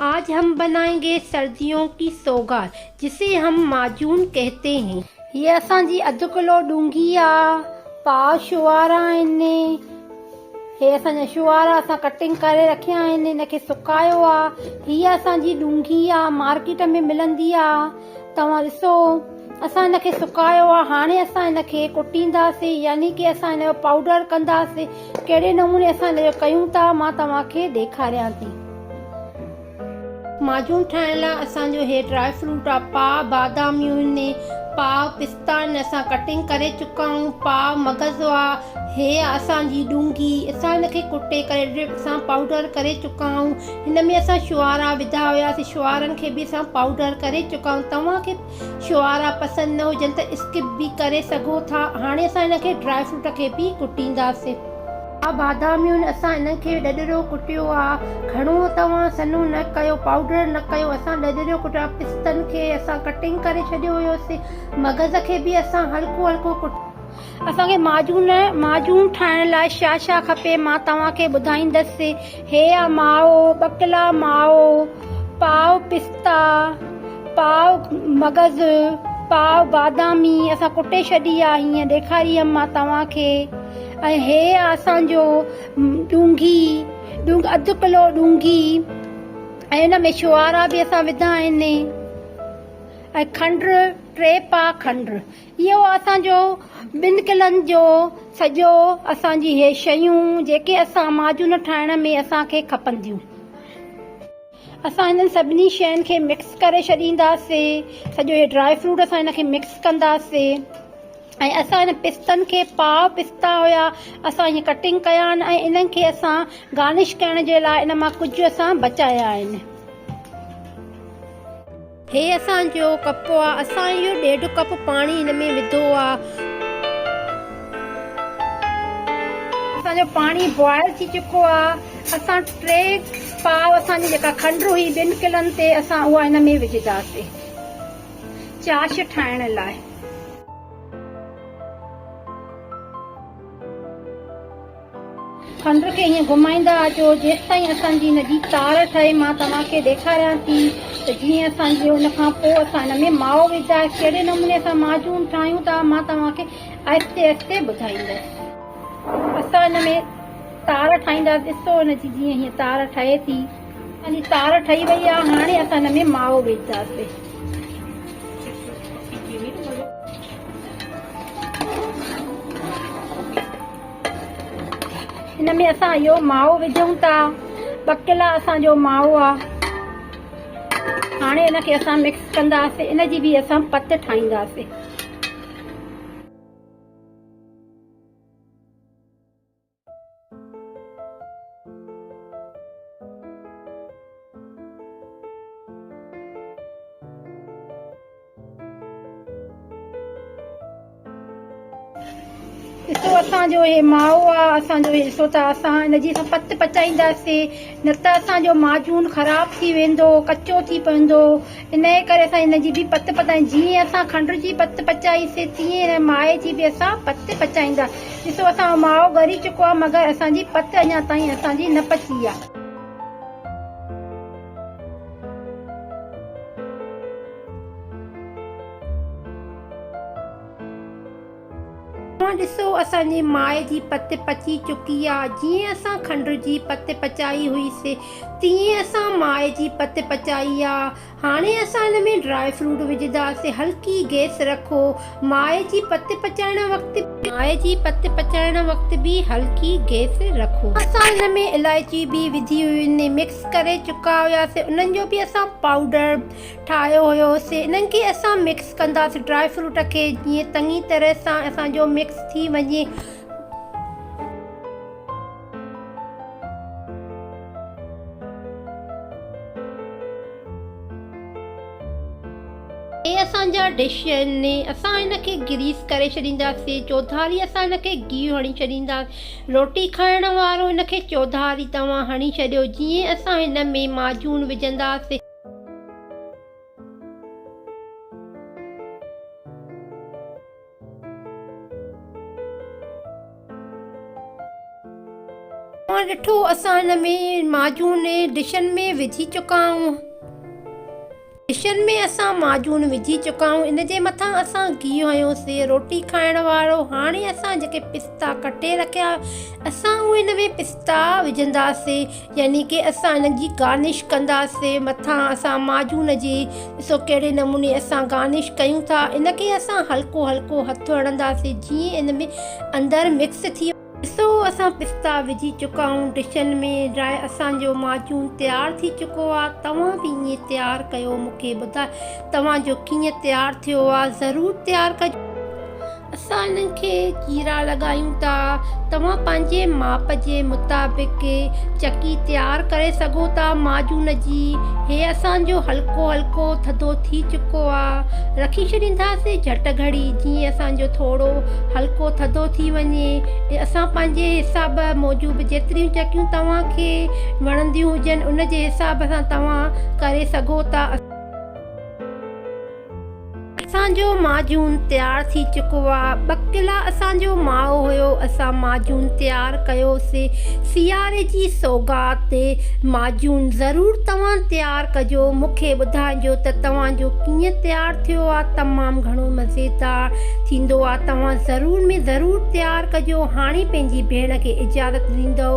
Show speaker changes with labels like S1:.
S1: آج هم بنائين گي سرديون ڪي سوغات جسي هم معجون ڪهتي هين. هيء اسان جي اڌ ڪلو ڏونگي آ، پاء شعارا آهن. هي اسان جا شعارا اسان ڪٽنگ ڪري رکيا آهن، هن کي سڪايو آ. هيء اسان جي ڏونگي آ، مارڪيٽ ۾ ملندي آ. توهان ڏسو، اسان هن کي سڪايو آ، هاڻي اسان هن کي ڪٽينداسين، يعني ڪي اسان هن جو پائوڊر ڪنداسين. ڪهڙي نموني اسان هن جو ڪيون ٿا، مان توهان کي ڏيکاريان ٿي. ماجون ٺاهڻ لاء اسان جو هي ڊرائي فروٽ آ پاء باداميون هن پاء پستا هن اسان ڪٽنگ ڪري چڪا آهيون پاء مغز آ هي آ اسان جي ڏونگي اسان هن کي ڪٽي ڪري ڊرپ سان پائوڊر ڪري چڪا آهيون هن ۾ اسان شوارا وڌا هياسين شوارن کي به اسان پائوڊر ڪري چڪا آهيون توهان کي شوارا پسند نه هجن ته اسڪپ به ڪري سگهو ٿا هاڻي اسان هن کي ڊرائي فروٽ کي به ڪٽينداسين. آ باداميون اسان انهن کي ڏڏريو ڪٽيو آ گهڻو توهان سنهو نه ڪيو پائوڊر نه ڪيو اسان ڏڏريو ڪٽيو آ پستن کي اسان ڪٽنگ ڪري ڇڏيو هيوسين مغز کي به اسان هلڪو هلڪو ڪٽيو اسان کي معجون معجون ٺاهڻ لاء شا شا کپي مان توهان کي ٻڌائيندس هيء ماء ٻڪلا ماء، پاء پستا، پاء مغز، پاء بادامي اسان ڪٽي ڇڏي آ هينئن ڏيکاريم مان توهان کي ۽ هيء آ اسان جو ڏونگهي، اڌ ڪلو ڏونگهي ۽ ان ۾ شوارا به اسان وڌا آهن ۽ کنڊ ٽي پاء کنڊ. اهو اسان جو ٻن قلعن جو سڄو اسان جي هي شيون جيڪي اسان معجون ٺاهڻ ۾ اسان کي کپنديون اسان هنن سڀني شين کي مڪس ڪري ڇڏينداسين سڄو هي ڊرائي فروٽ اسان هن کي مڪس ڪنداسين ۽ اسان هن پستن کي پاء پستا هيا اسان هي ڪٽنگ ڪيا آهن ۽ انهن کي اسان گارنش ڪرڻ جي لاء ان مان ڪجهه اسان بچايا آهن. هي اسان جو ڪپ آ اسان اهو ڏيڍ ڪپ پاڻي هن ۾ وڌو آ. اسان جو پاڻي بوائل ٿي چڪو آ اسان ٽي پاء اسان جي جيڪا کنڊ هئي ٻن ڪلن تي اسان اها هن ۾ وجهنداسين چاش ٺاهڻ لاء. پنڌ کي ائين گهمائيندا اچو جيستائين اسان جي ان جي تار ٺهي مان توهان کي ڏيکاريان ٿي ته جيئن اسان جي ان کان پوء اسان ان ۾ مائو وجدا ڪهڙي نموني سان معجون ٺاهيون ٿا مان توهان کي آهستي آهستي ٻڌائيندس. اسان ان ۾ تار ٺاهيندا ڏسو ان جي جيئن هيء تار ٺهي ٿي. اسان جي تار ٺهي وئي آهي هاڻي اسان ان ۾ مائو وجدا سي. هن ۾ اسان اهو مائو وجهون ٿا ٻڪلا اسان جو مائو آ هاڻي ان کي اسان مڪس ڪنداسين ان جي به اسان پت ٺاهينداسين حصو اسان جو هي ماء آ اسان جو حصو ته اسان ان جي سان پت پچائينداسين نه ته اسان جو معجون خراب ٿي ويندو ڪچو ٿي پوندو انهي ڪري اسان ان جي به پت پتائين جيئن اسان کنڊ جي پت پچائي سي تيئن هن ماء جي به اسان پت پچائيندا ڏسو اسان جو ماء ڳري چڪو آ مگر اسان جي پت اڃا تائين اسان جي نه پچي آ. هونء ڏسو اسان جي ماء جي پت پچي چڪي آ. جيئن اسان کنڊ جي پت پچائي هئي سي تيئن اسان ماء جي پت پچائي آ. هاڻي اسان ان ۾ ڊرائي فروٽ وجهنداسين. هلڪي گيس رکو. ماء جي پت پچائڻ وقت به. ماء جي پت پچائڻ وقت به هلڪي گيس رکو. اسان ان ۾ الائچي به وجهي هيون مڪس ڪري چڪا هياسين انهن جو به اسان پائوڊر. ٺاهيو هيوسي انهن کي اسان مڪس ڪنداسي ڊرائي فروٽ کي جيئن تڱي طرح سان اسان جو مڪس ٿي وڃي. هي اسان جا ڊش آهن اسان هن کي گريس ڪري ڇڏينداسي چوڌاري اسان هن کي گيهه هڻي ڇڏينداسي روٽي کائڻ وارو هن کي چوڌاري توهان هڻي ڇڏيو جيئن اسان هن ۾ معجون وجهنداسي. توهان ڏٺو اسان هن ۾ معجون ڊشن ۾ وجهي چڪا آهيون ڊشن ۾ اسان معجون وجهي چڪا آهيون ان جي مٿان اسان گيهه هنيوسي روٽي کائڻ وارو هاڻي اسان جيڪي پستا ڪٽي رکيا اسان اهي ان ۾ پستا وجهنداسي يعني ڪي اسان انهن جي گارنش ڪنداسين مٿان اسان معجون جي ڏسو ڪهڙي نموني اسان گارنش ڪيون ٿا ان کي اسان هلڪو هلڪو هٿ هڻنداسين جيئن ان ۾ اندر مڪس ٿي وڃي. ڏسو اسان پستا وجهي چڪا آهيون ڊشن ۾ ڊرائي اسان جو معجون تيار ٿي چڪو آهي توهان به ائين تيار ڪيو مون کي ٻڌايو توهان جو ڪيئن تيار ٿيو آهي ضرور تيار ڪجو. اسان انهن کي چيرا لڳايون ٿا. توهان پنهنجي ماپ جي مطابق چڪي تيار ڪري سگهو ٿا معجون جي. هي اسان جو هلڪو هلڪو ٿڌو ٿي چڪو آ. رکي ڇڏينداسين جهٽ گهڙي جيئن اسان جو ٿورو هلڪو ٿڌو ٿي وڃي. اسان پنهنجي حساب موجب جيتريون چڪيون توهان کي وڻنديون هجن ان جي حساب سان توهان ڪري سگهو ٿا. اسان جو معجون تيار ٿي چڪو آ. ٻڪلا اسان جو ماء هيو. اسان معجون تيار ڪيو سي. سياري جي سوغات تي معجون ضرور توهان تيار ڪجو. مون کي ٻڌائجو ته توهان جو ڪيئن تيار ٿيو آ. تمام گهڻو مزيدار ٿيندو آ. توهان ضرور ۾ ضرور تيار ڪجو. هاڻي پنهنجي ڀيڻ کي اجازت ڏيندؤ.